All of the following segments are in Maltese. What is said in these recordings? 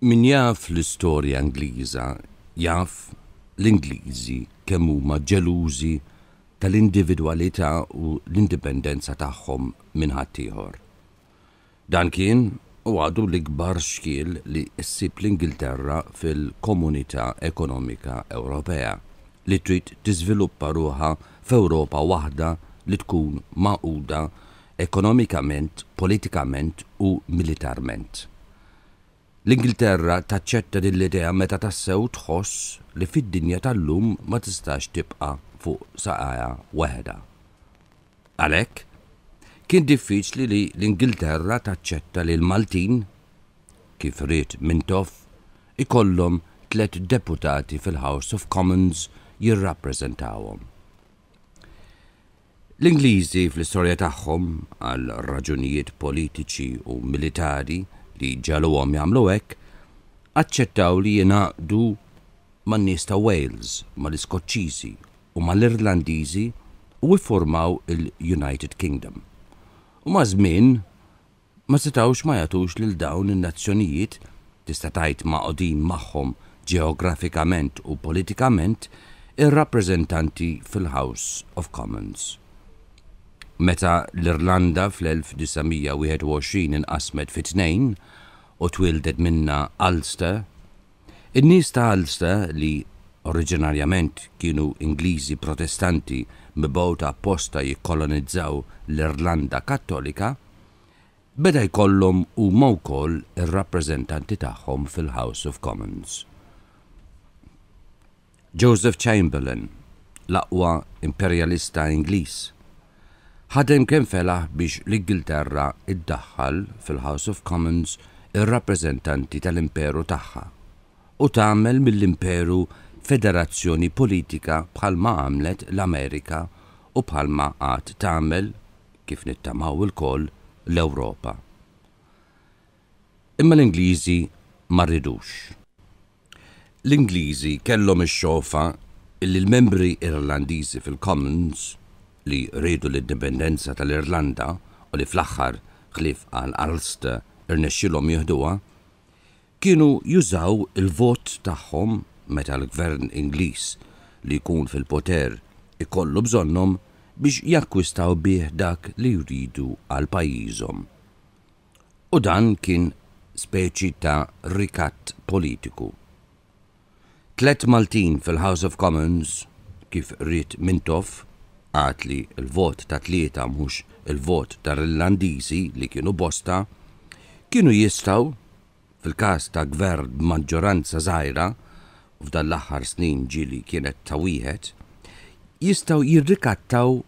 Min jaf l-istorja Ingliża jaf l-Ingliżi kemm huma ġelużi tal-individwalità u l-indipendenza tagħhom minn ħaddieħor. Dan kien u għadu l-ikbar xkiel li ssib l-Ingilterra fil-Komunità Ekonomika Ewropea li trid tiżviluppa ruħha f'Ewropa waħda li tkun magħquda ekonomikament, politikament u militarment. L-Ingilterra taċċetta din l-idea meta tassew tħoss li fid-dinja tal-lum ma tistax tibqa' fuq saqajha waħedha. Għalhekk, kien diffiċli li l-Ingilterra taċċetta li l-Maltin, kif ried Mintoff, ikollhom tliet deputati fil-House of Commons jirrappreżentawhom. L-Ingliżi fl-istorja tagħhom, għal raġunijiet politiċi u militari li ġagħluhom jagħmlu hekk, aċċettaw li jingħaqdu man-nies ta' Wales, mal-Iskoċċiżi u mal-Irlandiżi u iffurmaw il-United Kingdom. U maż-żmien, ma setgħux ma jagħtux lil dawn in-nazzjonijiet, tista' tgħid magħqudin magħhom ġeografikament u politikament, ir-rappreżentanti fil-House of Commons. Meta l-Irlanda fl-1921 inqasmet fi tnejn u twieldet minnha Ulster, In-nies ta' Ulster, li oriġinarjament kienu Ingliżi Protestanti mibgħuta apposta jikkolonizzaw l-Irlanda Kattolika, beda jkollhom huma wkoll ir-rappreżentanti tagħhom fil-House of Commons. Joseph Chamberlain, l-aqwa imperjalista Ingliż, ħadem kemm felaħ biex l-Ingilterra ddaħħal fil-House of Commons ir-rappreżentanti tal-imperu tagħha u tagħmel mill-imperu federazzjoni politika bħalma għamlet l-Amerika u bħalma għad tagħmel, kif nittamaw ilkoll, l-Ewropa. Imma l-Ingliżi ma rridux. L-Ingliżi kellhom ix-xofa li l-membri Irlandiżi fil-Commons, li riedu l-indipendenza tal-Irlanda u li fl-aħħar, ħlief għal Ulster, irnexxielhom jieħduha, kienu jużaw il-vot tagħhom meta l-Gvern Ingliż li jkun fil-poter ikollu bżonnhom biex jakkwistaw bih dak li jridu għal pajjiżhom. U dan kien speċi ta' rikatt politiku. Tliet Maltin fil-House of Commons, kif ried Mintoff, għad li l-vot ta' tlieta mhux il-vot tal-Irlandiżi li kienu bosta, kienu jistgħu, fil-każ ta' Gvern b'maġġoranza żgħira, u f'dan l-aħħar snin ġieli kienet ta' wieħed, jistgħu jirrikattaw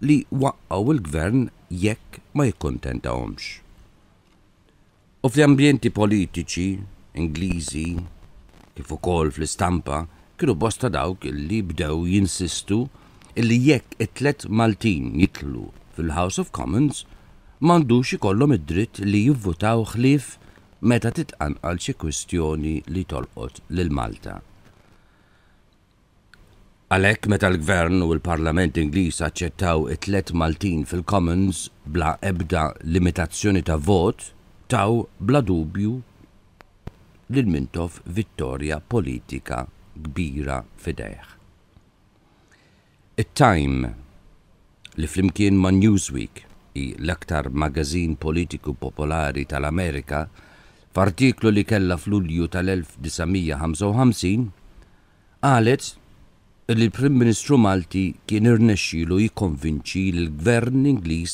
li waqqgħu l-Gvern jekk ma jikkuntentahomx. U fl-ambjenti politiċi Ingliżi, kif ukoll fl-istampa, kienu bosta dawk li bdew jinsistu illi jekk it-tliet Maltin jidħlu fil-House of Commons m'għandux ikollhom id-dritt li jivvutaw ħlief meta titqanqal xi kwistjoni li tolqot lil Malta. Għalhekk meta l-Gvern u l-Parlament Ingliż aċċettaw it-tliet Maltin fil-Commons bla ebda limitazzjoni ta' vot taw bla dubju lil Mintoff vittorja politika kbira f'idejh. It-Time, li flimkien ma' Newsweek hi l-aktar magazin politiku popolari tal-Amerika, f'artiklu li kellha f'Lulju tal-1955, qalet li l-Prim Ministru Malti kien irnexxielu jikkonvinċi lill-Gvern Ingliż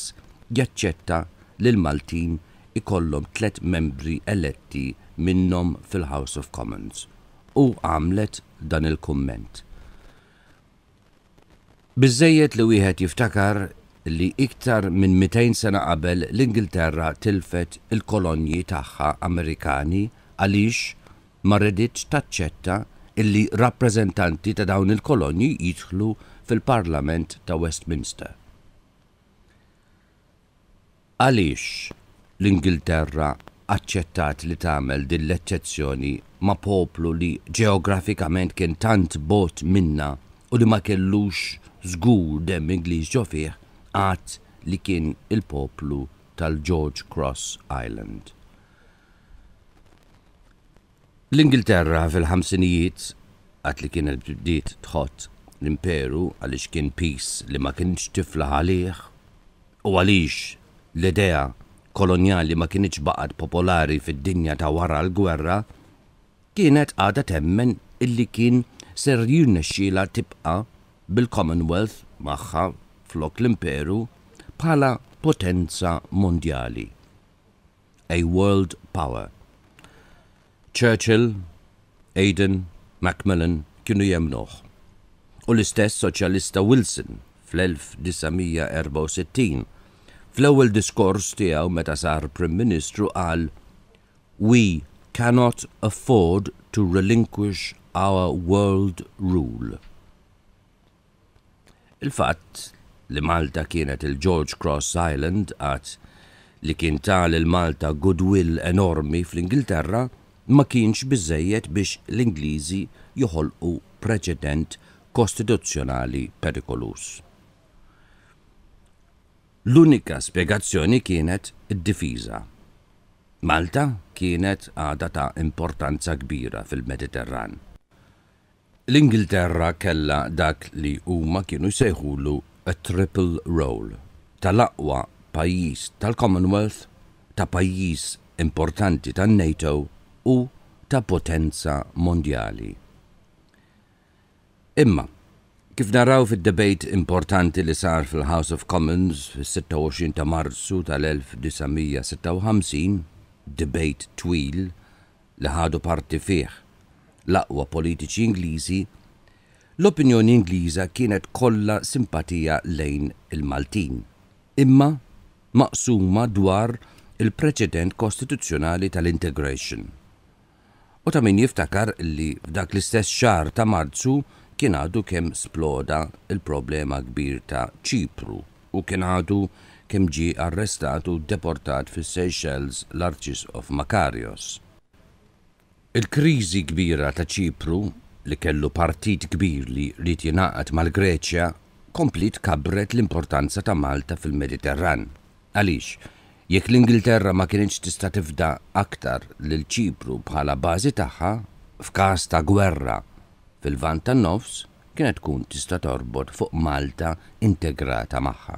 jaċċetta li l-Maltin ikollhom tliet membri eletti minnhom fil-House of Commons. u għamlet dan il-kumment, Biżżejjed li wieħed jiftakar li iktar minn mitejn sena qabel l-Ingilterra tilfet il-kolonji tagħha Amerikani għaliex ma reditx taċċetta illi rappreżentanti ta' dawn il-kolonji jidħlu fil-Parlament ta' Westminster. Għaliex l-Ingilterra aċċettat li tagħmel din l-eċċezzjoni ma' poplu li ġeografikament kien tant bogħod minnha u li ma kellux żgur demm Ingliż ġo fih għad li kien il-poplu tal-George Cross Island? L-Ingilterra fil-ħamsinijiet, waqt li kienet bdiet tħott l-Imperu għaliex kien piż li ma kinitx tiflaħ għalih u għaliex l-idea kolonjali ma kinitx baqgħet popolari fid-dinja ta' wara l-gwerra, kienet għadha temmen illi kien ser jirnexxielha tibqa' bil-Commonwealth magħha flok l-Imperu bħala potenza mondjali. a world power. Churchill, Aden, Macmillan kienu jemmnuh. U l-istess Soċjalista Wilson fl-1964, fl-ewwel diskors tiegħu meta sar Prim Ministru qal, We cannot afford to relinquish our world rule. Il-fatt li Malta kienet il-George Cross Island għadd li kien ta lil Malta goodwill enormi fl-Ingilterra ma kienx biżżejjed biex l-Ingliżi joħolqu preċedent kostituzzjonali perikoluż. L-unika spjegazzjoni kienet id-difiża. Malta kienet għadha ta' importanza kbira fil-Mediterran. L-Ingilterra kellha dak li huma kienu jsejħulu t-triple role tal-aqwa pajjiż tal-Commonwealth, ta' pajjiż importanti tan-NATO u ta' potenza mondjali. Imma, kif naraw fid-debate importanti li sar fil-House of Commons fis-26 ta' Marzu tal-1956, debate twil, li ħadu parti fih l-aqwa politiċi Ingliżi, l-opinjoni Ingliża kienet kollha simpatija lejn il-Maltin, imma maqsuma dwar il-preċedent kostituzzjonali tal-integration. U ta' min jiftakar li f'dak l-istess xahar ta' Marzu kien għadu kemm sploda l-problema kbir ta' Ċipru, u kien għadu kemm ġie arrestat u deportat fis-Seychelles l-Arċisqof Makarios. Il-kriżi kbira ta' Ċipru, li kellu partit kbir li ried jingħaqad mal-Greċja, kompliet kabbret l-importanza ta' Malta fil-Mediterran. Għaliex, jekk l-Ingilterra ma kinitx tista' tifda aktar lil Ċipru bħala bażi tagħha, f'każ ta' gwerra fil-Lvant tan-Nofs, kienet tkun tista' torbot fuq Malta integrata magħha.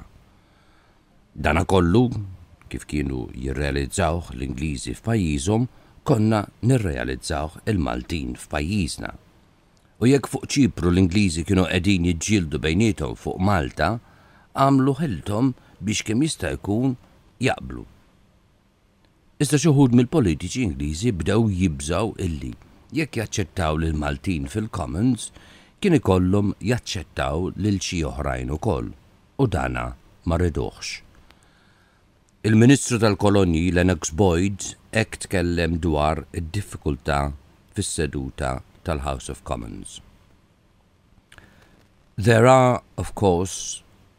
Dana kollu, kif kienu jirrealizzawh l-Ingliżi f'pajjiżhom, konna nirrealizzawh il-Maltin f'pajjiżna. U jekk fuq Ċipru l-Ingliżi kienu qegħdin jiġġieldu bejniethom fuq Malta, għamlu ħilthom biex kemm jista' jkun jaqblu. Iżda xi wħud mill-politiċi Ingliżi bdew jibżgħu illi jekk jaċċettaw lill-Maltin fil-Commons kien ikollhom jaċċettaw lil xi oħrajn ukoll u dan ma riduhx. Il-Ministru tal-Kolonji Lennox Boyd hekk tkellem dwar id-diffikultà fis-seduta tal-House of Commons, There are, of course,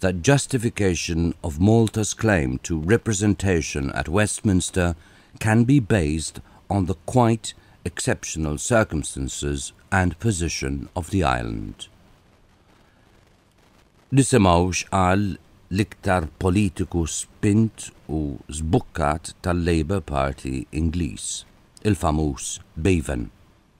the justification of Malta's claim to representation at Westminster can be based on the quite exceptional circumstances and position of the island. Nisimgħu x'qal l-iktar politiku spint u żbukkat tal-Labour Party Ingliż, il-famuż Bevan.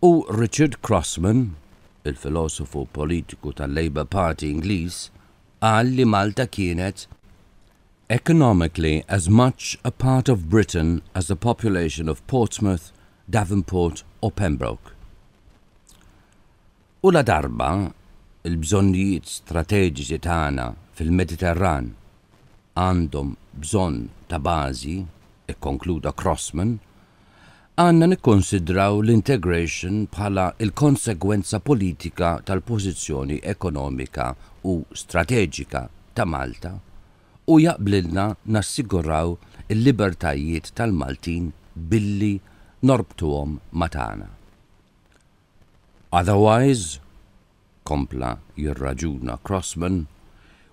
U Richard Crossman, il-filosofu politiku tal-Labour Party Ingliż, qal li Malta kienet economically as much a part of Britain as the population of Portsmouth, Davenport or Pembroke. U ladarba l-bżonnijiet strateġiċi tagħna fil-Mediterran għandhom bżonn ta' bażi, ikkonkluda Crosman, għandna nikkunsidraw l-integration bħala l-konsegwenza politika tal-pożizzjoni ekonomika u strateġika ta' Malta u jaqblilna nassiguraw il-libertajiet tal-Maltin billi norbtuhom ma' tagħna. Otherwise, kompla jirraġuna Crossman,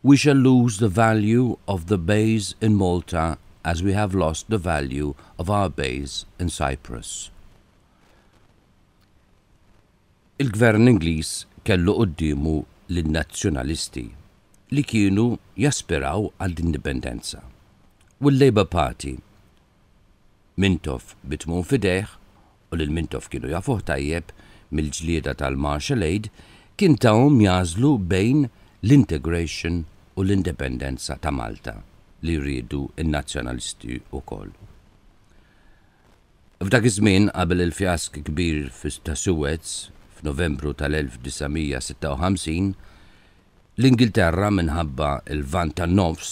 we shall lose the value of the bays in Malta as we have lost the value of our bays in Cyprus. Il-Gvern Ingliż kellu quddiemu lin-Nazzjonalisti li kienu jaspiraw għall-indipendenza u l-Labour Party, Mintoff bi tmun f'idejh u lil Mintoff kienu jafuh tajjeb mill-ġlieda tal-martial aid, kien tahom jagħżlu bejn l-integration u l-indipendenza ta' Malta li jriedu n-Nazzjonalisti wkoll. F'dak iż-żmien, qabel il-fjask kbir ta' Suez f'Novembru tal-1956, l-Ingilterra minħabba l-Lvant tan-Nofs,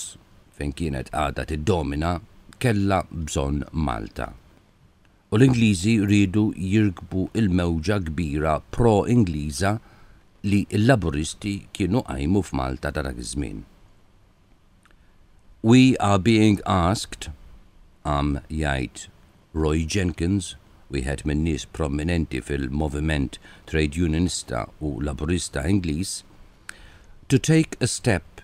fejn kienet għadha tiddomina, kellha bżonn Malta. u l-Ingliżi riedu jirkbu l-mewġa kbira pro-Ingliża li l-Laburisti kienu qajmu f'Malta ta' dak iż-żmien. We are being asked, qam jgħid Roy Jenkins, wieħed min-nies prominenti fil-moviment Trade Unionista u Laburista Ingliż, to take a step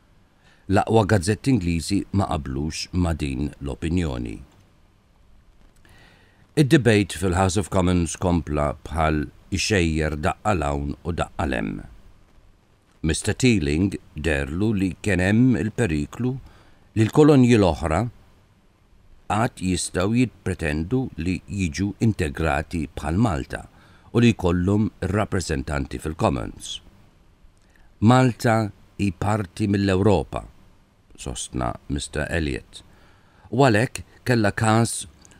L-aqwa gazzetti Ingliżi ma qablux ma' din l-opinjoni. Id-debate fil-House of Commons kompla bħal ixejjer daqqa 'l hawn u daqqa 'l hemm. Mister Teeling deherlu li kien hemm il-periklu li l-kolonji l-oħra għad jistgħu jippretendu li jiġu integrati bħal Malta u li jkollhom ir-rappreżentanti fil-Commons. Malta hi parti mill-Ewropa, sostna Mister Elliott, u għalhekk kellha każ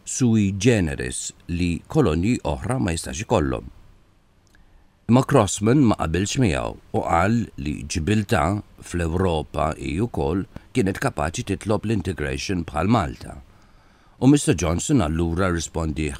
sui generis li kolonji oħra ma jistax ikollhom. Imma Crossman ma qabilx miegħu u qal li Ġibiltà fl-Ewropa hi wkoll kienet kapaċi titlob l-integration bħal Malta u Mister Johnson allura rrispondieh,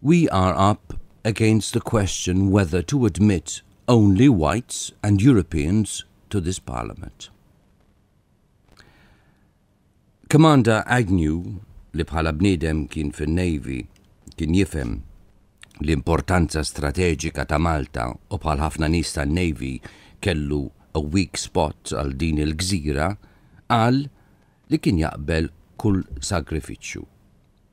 We are up against the question whether to admit only whites and Europeans to this Parliament. Commander Agnew, li bħala bniedem kien fin-Navy, kien jifhem l-importanza strateġika ta' Malta u bħal ħafna nies tan-Navy kellu a weak spot għal din il-gżira, qal li kien jaqbel kull sagrifiċċju.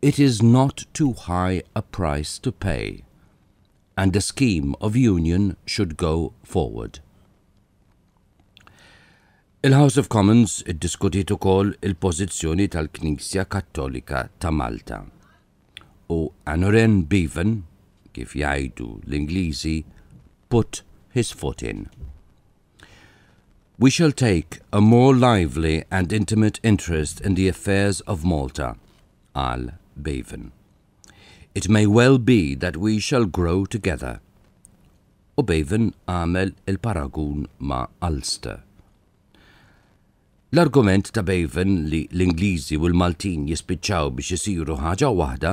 it is not too high a price to pay and a scheme of union should go forward. Il-House of Commons iddiskutiet ukoll il-pożizzjoni tal-Knisja Kattolika ta' Malta u Aneurin Bevan, kif jgħidu l-Ingliżi, put his foot in. We shall take a more lively and intimate interest in the affairs of Malta, qal Bevan. It may well be that we shall grow together. U Bevan għamel il-paragun ma' Ulster. L-argument ta' Bevan li l-Ingliżi u l-Maltin jispiċċaw biex isiru ħaġa waħda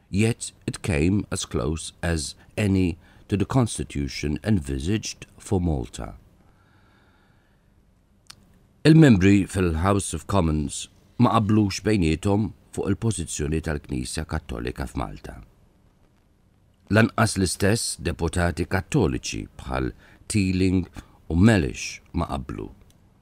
yet it came as close as any to the constitution envisaged for Malta. Il-membri fil-House of Commons ma qablux bejniethom fuq il-pożizzjoni tal-Knisja Kattolika f'Malta. Lanqas l-istess deputati Kattoliċi bħal Teeling u Mellish ma qablu.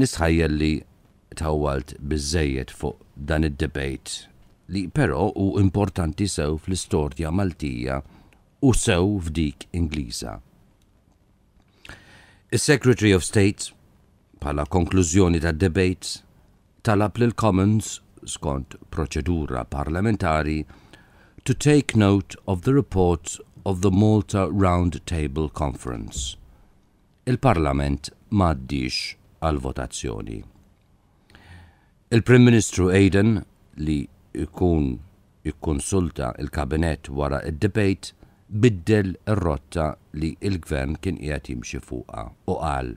Nistħajjel li tawwalt biżżejjed fuq dan id-debate li però hu importanti sew fl-istorja Maltija u sew f'dik Ingliża. Is-Secretary of State, bħala konklużjoni tad-debate, talab lill-Commons, skont proċedura parlamentari, to take note of the report of the Malta Round Table Conference. Il-Parlament ma għaddiex għall-votazzjoni. Il-Prim Ministru Aden, li jkun ikkonsulta l-Kabinett wara d-debate, biddel ir-rotta li l-Gvern kien qiegħed jimxi fuqha u qal,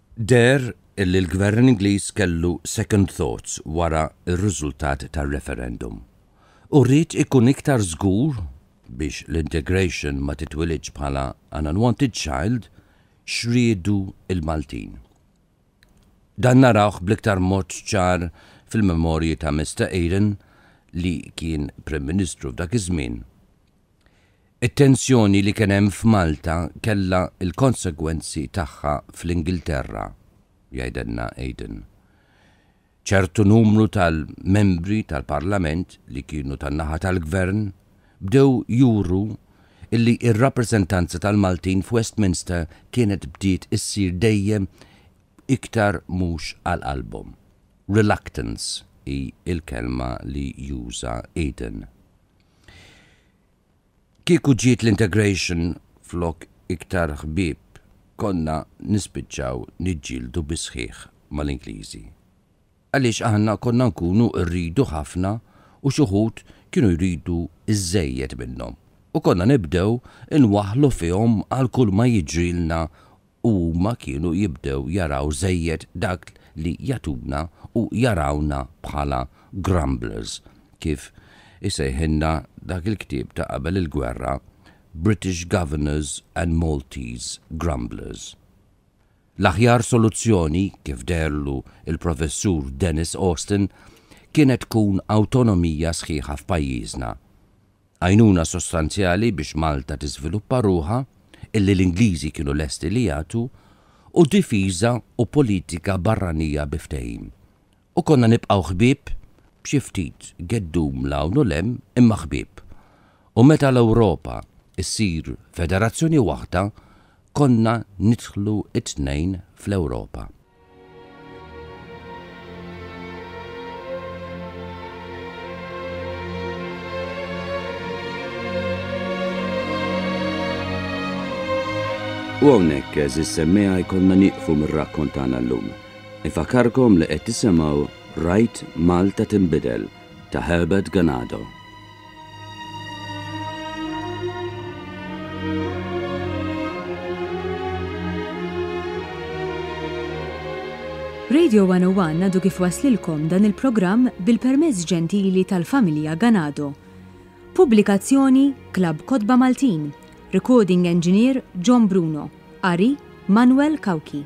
Deher li l-Gvern Ingliż kellu second thoughts wara r-riżultat tar-referendum u ried ikun iktar żgur biex l-integration ma titwilidx bħala an unwanted child x'riedu l-Maltin. Dan narawh bl-iktar mod ċar fil-memorji ta' Mister Eden li kien Prim Ministru f'dak iż-żmien It-tensjoni li kien hemm f'Malta kellha l-konsegwenzi tagħha fl-Ingilterra, jgħidilna Aden. Ċertu numru tal-Membri tal-Parlament li kienu tan-naħa tal-Gvern bdew juru li r-rappreżentanza tal-Maltin f'Westminster kienet bdiet issir dejjem iktar mhux għal qalbhom. Reluctance hi l-kelma li juża Aden. Kieku ġiet l-integration flok iktar ħbieb konna nispiċċaw niġġieldu bis-sħiħ mal-Ingliżi. Għaliex aħna konna nkunu rridu ħafna u x'uħud kienu jridu iżżejjed minnhom u konna nibdew inwaħħlu fihom għal kulma jiġrilna u huma kienu jibdew jaraw żejjed dak li jagħtuna u jarawna bħala grumblers, kif isejħilna dak il-ktieb ta' qabel il-gwerra, British Governors and Maltese Grumblers. L-aħjar soluzzjoni, kif deherlu l-Professur Denis Austin, kienet tkun awtonomija sħiħa f'pajjiżna. Għajnuna sostanzjali biex Malta tiżviluppa ruħha, illi l-Ingliżi kienu lesti li jagħtu, u difiża u politika barranija bi ftehim. U konna nibqgħu ħbieb, b'xi ftit geddum 'l hawn u 'l hemm, imma ħbieb. U meta l-Ewropa ssir federazzjoni waħda, konna nidħlu t-tnejn fl-Ewropa. U hawnhekk eżis semmeja jkollna nieqfu mir-rakkont tagħna llum. Ifakarkom li qed tisimgħu Rajt Malta Tinbidel ta' Herbert Ganado. Radio 101 għadu kif waslilkom dan il-programm bil-permezz ġentili tal-familja Ganado. Pubblikazzjoni Klab Kotba Maltin, Recording Engineer John Bruno. Qari, Manuel Cauchi.